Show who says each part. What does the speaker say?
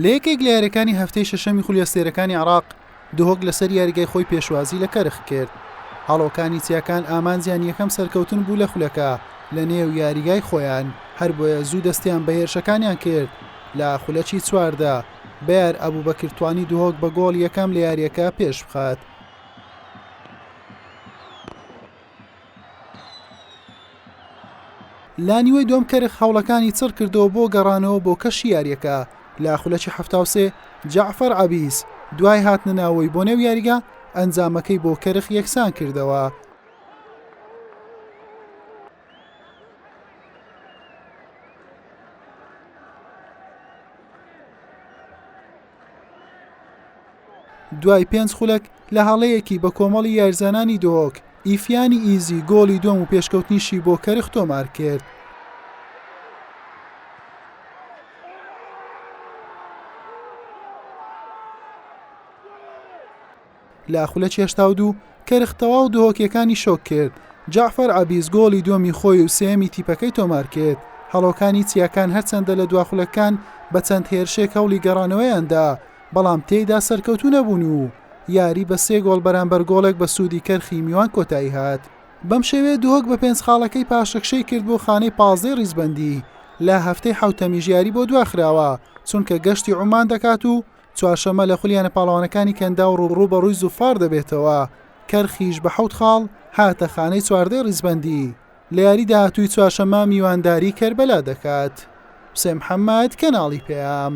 Speaker 1: لە یەکێک لە یاریەکانی هەفتەی شەشەمی خولی ئەستێرەکانی عێراق، دهۆک لەسەر یاریگای خۆی پێشوازی لە کەرخ کرد. هەڵۆکانی چیاکان ئامانجیان یەکەم سەرکەوتن بوو لە خولەکە لە نێو یاریگای خۆیان، هەربۆیە زوو دەستیان بە هێرشەکانیان کرد، لە خولەکی چواردە بەیار ئەبوبەکر توانی دهۆک بە گۆڵی یەکەم لە یاریەکە پێشبخات. لە نیوەی دووەم کەرخ هەوڵەکانی چڕ کردەوە بۆ گەڕانەوە بۆ کەشی یارییەکە لە خولەکی حەفتا و سێ جەعفەر عەبیس دوای هاتنە ناوەوەی بۆ نێو یاریگا ئەنجامەکەی بۆ کەرخ یەکسان کردەوە. دوای پێنج خولەک لە هەڵەیەکی بە کۆمەڵی یارزانانی دۆک، ئیفیانی ئیزی گۆڵی دووەم و پێشکەوتنیشی بۆ کەرخ تۆمار کرد. لە خولە چێشتاو دوو کەرخ تەواو دهۆکێکانی شۆک کرد، جەعفەر عەبیس گۆڵی دووەمی خۆی و سێیەمی تیپەکەی تۆمارکرد، هەڵۆکانی چیاکان هەرچەندە لە دوا خولەکان بە چەند هێرشێک هەوڵی گەڕانەوەیان دا، بەڵام تێیدا سەرکەوتوو نەبوون و یاری بە سێ گۆڵ بەرامبەر گۆڵێک بە سوودی کەرخی میوان کۆتایی هات. بەم شێوەیە دهۆک بە پێنج خاڵەکەی پاشەکشەی کرد بۆ خانەی پازدەی ریزبەندی، لە هەفتەی حەوتەمیش یاری بۆ دواخراوە، چونکە گەشتی عومان دەکات و چوارشەممە لە خولییانە پاڵەوانەکانی کەنداو رووبەڕووی زوفار دەبێتەوە، کەرخیش بە حەوت خاڵ هاتە خانەی چواردەی ریزبەندی، لە یاری داهاتووی چوارشەممە میوانداری کەربەلا دەکات. حوسێن محەممەد، کەناڵی پەیام.